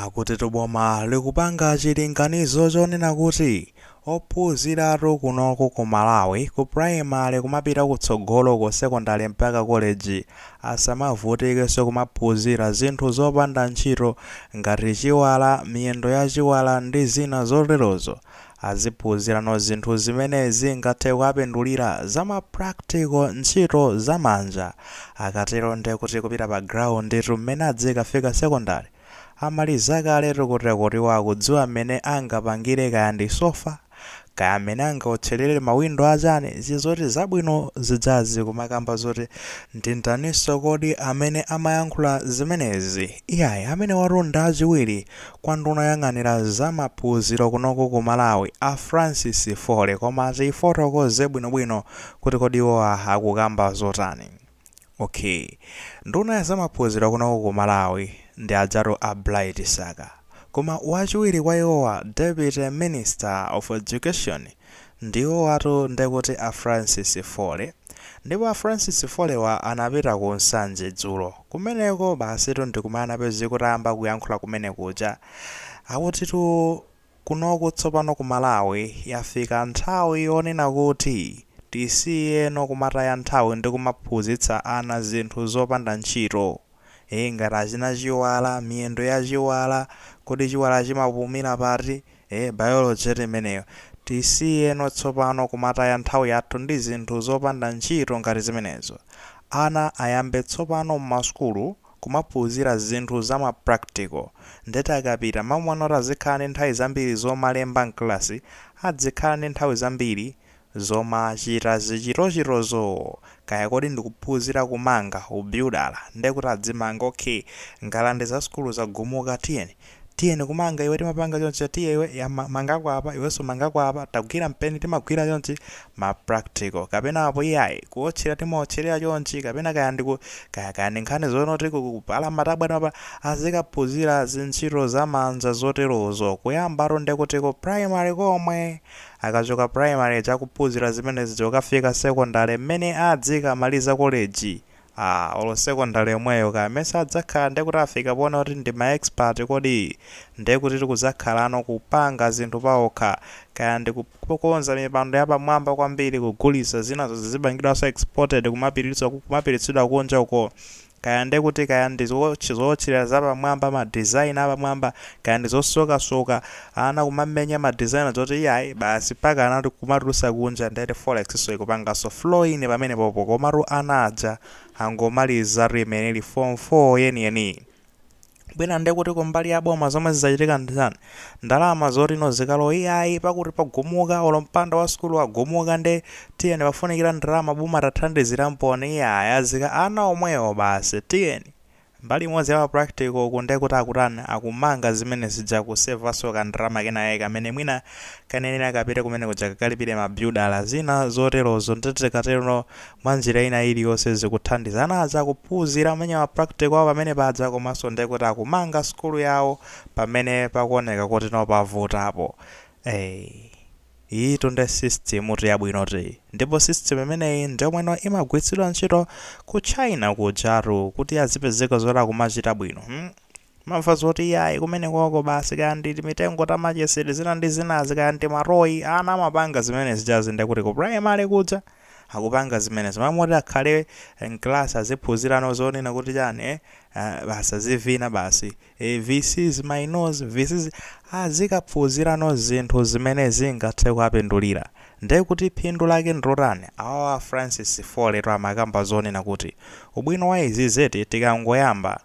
Akutitu boma likupanga chilinganizo chonena kuti ophunziratu kunoko ku Malawi ku primary kumapita kutsogolo ku secondary mpaka college asamavutikenso kumaphunzira zinthu zopanda ntchito ngati chiwala, miyendo ya chiwala ndi zina zoterozo. Aziphunzirano zinthu zimene zingathe kuwapindulira, za ma practical, ntchito za manja. Akatero nde kuti kupita pa ground tu mmene adzikafika secondary amaliza kale tu kotero kuti iwo akudziwa mmene angapangire kaya ndi sofa, kaya mmene angaotcherere ma window a chani, zizoti zabwino zidzazi kumakamba zoti ndi ndaninso kodi amene amayankhula zimenezi? Iyayi, amenewatu nda achiwiri. Kwa nduna yoyang'anira za maphunziro kunoku ku Malawi a Francis Foley koma tifotokoze bwinobwino kuti kodi iwowa akukamba zotani. Ok. Nduna ya zamaphunziro kunoku ku Malawi ndi adzatu a Bright Msaka. Koma wachiwiri kwa iwowa Deputy Minister of Education, Ndiwowatu ndekuti a Francis Foley. Ndipo a Francis Foley wa anapita ku Nsanje dzulo. Kumeneko basitu ndikumaona apezeka atayamba kuyankhula kumene kuja. Akutitu kunoku tsopano ku Malawi yafika nthawi yonena kuti tisiyeno kumataya nthawi ndi kumaphunzitsa ana zinthu zopanda ntchito. Hee ngati achina Chiwala, miyendo ya Chiwala, kodi Chiwala chimapumila pati? Eee biology eti imeneyo. Tisiyeno tsopano kumataya nthawi yathu ndi zinthu zopanda ntchito ngati zimenezo. Ana ayambe tsopano mmasukulu kumaphunzira zinthu za ma practical. Ndeti akapita mmalo oti azikhala ndi nthawi zambiri zomalemba mkalasi adzikhala ndi nthawi zambiri zomachitazi zichitochitozo kaya kodi ndikuphunzira kumanga, ubyudala, nde kuti adzimanga ok ngalande za sukulu zagumuka tiyeni tiyeni kumanga iwe timapanga chonchi tiye iwe yamba mangako apa iwenso mangako apa tagwira mpeni timagwira chonchi ma practical kapena apo iyayi kuotchera timaotcherera chonchi kapena kaya ndiku kaya kaya ndi nkhani zonoti ku- kupala matabwa timapala azikaphunzira zintchito zamanja zoterozo kuyambatu ndekutiko primary komwe Akachoka primary akuphuzira zimenezi kukafika secondary mmene adzikamaliza college aah olo secondary yomweyo kaya mesa adzakhala ndekuti afika ponena kuti ndi ma expert kodi ndekuti akudzakhalano kupanga zinthu paokha kaya ndikukonza mipando yapamwamba kwambiri kugulitsa zinazo zizipangidwaso exported kumapilitso kumapititsidwa kunja uko kaya nde kuti kaya ndi zootch zootcherera zapamwamba ma design apamwamba kaya ndi zosokasoka ana kumamenya ma design zoti iyayi basi paka ana kuti kumatulusa kunja ndeti forex so ikupangaso flow in pamene popo komatu ana aja angomaliza tu kumene form 4 yeniyeniyi bwera nde kuti kumbali ya boma zomwe zidzachitika ndi zani ndalama zoti no zikalowe iyayi pakuti pagumuka olo mpanda wa sukulu agumuka nde tiyeni pafunikira ndalama boma tathandizira mponi iyayi azika ana omwewo basi tiyeni mbali imodzi ya practical uku nde kuti akutani akumanga zimene zija kusevanso kandalama kena yake kamene mwina kayenera kapite kumene kuja kakalipire mabyudala zina zoterozo nde tikatero mwanjira ina iliyonse zikuthandiza ana aja kuphunzira amenye ma practical awo pamene paja komanso nde kuti akumanga sukulu yawo pamene pakuoneka kuti no pavutapo eh iyitu nde system tu yabwinotu iyi ndipo system imeneyi ndi yomwe no imagwiritsidwa ntchito ku china kujatu kuti azipezeka zoti akumachita bwino hmm? Timamva zoti iyayi kumenekoko basi kaya ndi timitengo ta machesi zina ndi zinazi kaya ndi timatoy, ana amapanga zimene zijazi nde kuti ku primary kuja akupanga zimenezo. Malo moti akhale m'class aziphunzira no zonena kuti chani eh basi azivina basi eh this is my nose this is. Azikaphunzira no zinthu zimene zingathe kuwapindulira. Nde kuti phindu lake ndi lotani? Awawa a Francis Folleytu amakamba zonena kuti ubwino wa izizi eti tikangoyamba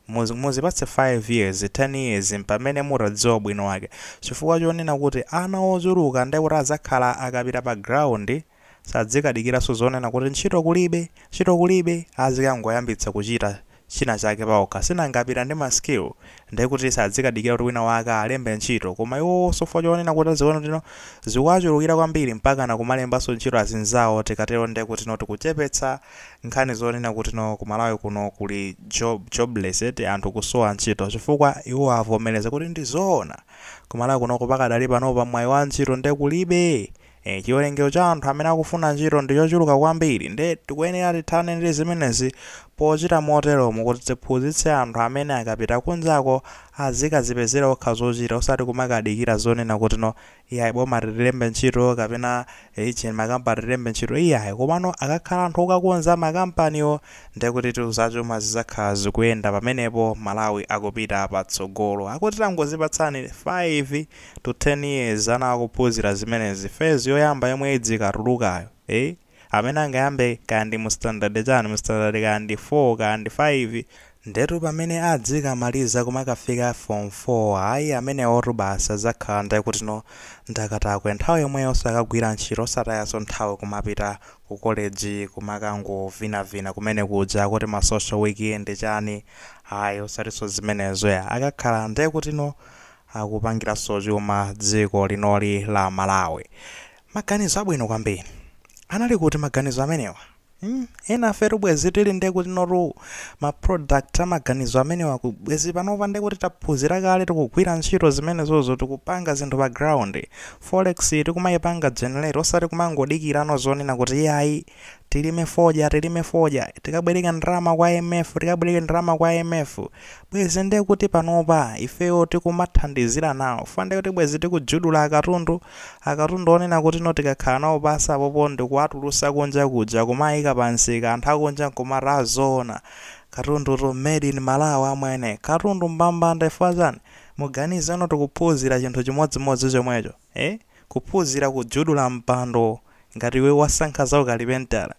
Muzipatse 5 years, 10 years mpamene mutadziwa ubwino wake. Chifukwa chonena kuti ana ochuluka nde kuti adzakhala akapita pa ground sadzikadikiranso zonena kuti ntchito kulibe, ntchito kulibe, azikangoyambitsa kuchita china chake paokha. Si nanga apita ndi ma skill nde kuti sadzikadikira kuti wina wake alembe ntchito. Koma iwowonso chifukwa chonena kuti aziona kuti no zikuwachulukira kwambiri mpakana kumalembanso ntchito azinzawo tikatero nde kuti no tikuchepetsa nkhani zonena kuti no ku malawi kuno kuli jobless eti anthu kusowa ntchito chifukwa iwo avomereza kuti ndi zoona ku malawi kunoko pakadali panopa mwayi wa ntchito nde kulibe e, chiwerengero cha anthu amene akufuna ntchito ndi chochuluka kwambiri nde tikuyenera tithane ndi zimenezi pochita moteromo kuti tiphunzitse anthu amene akapita kunjako azikazipezera okha zochita osati kumakadikira zonena kuti no iyayi boma litilembe ntchito kapena region makampani tilembe ntchito iyayi komano akakhala anthu okakonza makampaniwo ndekuti tu zachuma zizakhala zikuyenda pamenepo malawi akupita patsogolo akuti tangozipatsani 5 to 10 years ana akuphunzira zimenezi phase yoyamba yomwe idzikatulukayo eh amene angayambe kaya ndi mu standard chani mu standard kaya ndi 4 kaya ndi 5 ndetu pamene adzikamaliza kumakafika form 4 ayi amenewotu basi adzakhala nde kuti no ndi akatakwe nthawi yomweyo nso akagwira ntchito osatayanso nthawi kumapita ku college kumakangovinavina kumene kuja kuti ma social weekend chani ayi osatinso zimenezo ya akakhala nde kuti no akupangiranso chuma dziko linoli la malawi Maganizo abwino kwambiri. Anali kuti maganizo amenewa? mm enafe tu bwezi tili nde kuti no tu ma product a maganizo amenewa ku bwezi panopa nde kuti taphuzira kale tikugwira ntchito zimenezozo tikupanga zinthu pa ground. Forex tikumaipanga generate osati kumangodikirano zonena kuti iyayi. tilime fodya tilime fodya tikabwereke ndalama kwa imf tikabwereke ndalama kwa imf bwezi nde kuti panopa ifeyo tikumathandizira nawo fund kuti bwezi tikujudula akatundu akatundu onena kuti no tikakhala nawo pansi apopo ndikuwatulutsa kunja kuja kumayika pamsika anthu akunja nkumati azoona katundu oti made in malawi amwene katundu mbambande chifukwa chani muganize no tikuphunzira chinthu chimodzimodzi chomwecho ee kuphuzira kujudula mpando ngati iwe wasankha za ukalipentala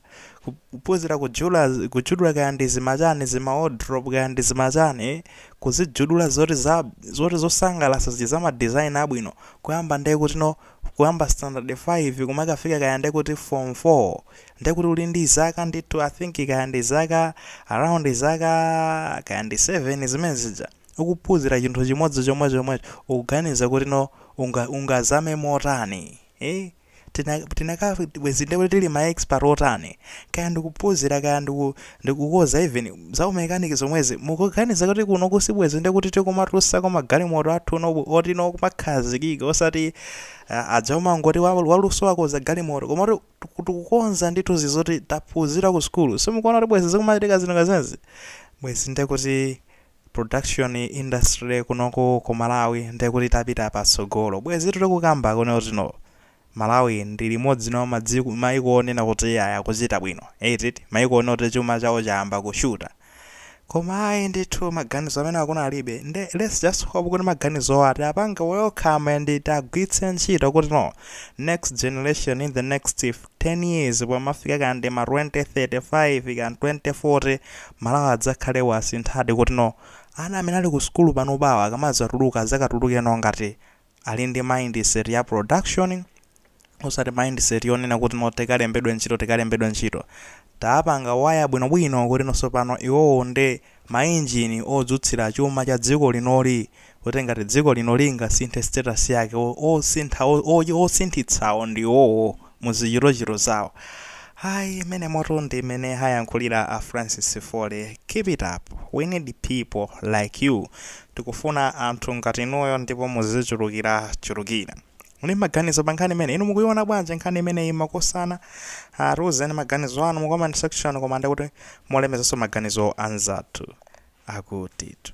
kuphuzira kuju- kujudula kaya ndi zimachani zima wardrobe kaya ndi zimachani ee kuzijudula zoti za zoti zosangalasa zija za ma design abwino kuyamba nde kuti no kuyamba standard 5 kumakafika kaya nde kuti form 4 nde kuti uli ndi zaka ndithu i think kaya ndi zaka around zaka kaya ndi 7 zimene zija ukuphuzira chinthu chimodzi chomwe chomwecho ukuganiza kuti no unga, ungazame motani eh? tina tinaka bwezi nde kuti tili ma expert otani kaya ndikuphuzira kaya ndiku ndikukoza even za umechanic zomwezi mukuganiza kuti kunoku sibwezi nde kuti tikumatulutsako magalimoto athu no oti no kumakhazikika osati uh, azumangoti wa- waluso wakoza galimoto koma kuti tiku- tikukonza ndithu zizoti taphuzira ku sukulu simukuona kuti bwezi zikumachitika zinthu ngati zimenezi bwezi nde kuti production industry kunoko ku malawi ndekuti itapita patsogolo bwezitu tikukamba kuti no malawi ndi limodzi mwa madziko maiko onena kuti ayamba kuchita bwino eti maiko onena kuti chuma chawo chayamba kushuta koma ayi ndithu maganizo amenewa kunalibe nde let's just hope kuti maganizowa tiapange welcome and tiwagwiritse ntchito kuti no next generation in the next 10 years pomafika kaya ndi ma 2035 kaya 2040 malawi adzakhale wasinthadi kuti no ana amene ali ku sukulu panopawa akamadzatuluka adzakatuluke no ngati ali ndi mindset ya production osati mindset yonena kuti no tikalembedwe ntchito tikalembedwe ntchito tapanga waya bwinobwino kuti no sopano iwowo nde mainjini odzutsira chuma cha dziko linoli kuti ngati dziko linoli lingasinthe status yake o- osintha o- o- osinthitsawo ndi iwowo muzichitochito zawo ayi imene moto ndi imene ayankhulira a francis fole keep it up we need people like you tikufuna anthu ngati inuyo ndipo muzichulukira chulukira muli maganizo pa nkhani imene inu mukuiona bwanji nkhani imeneyi makosana uh, tiuzeni maganizo anu mu comment section koma ndikuti mulemekezenso maganizo anzathu akutitu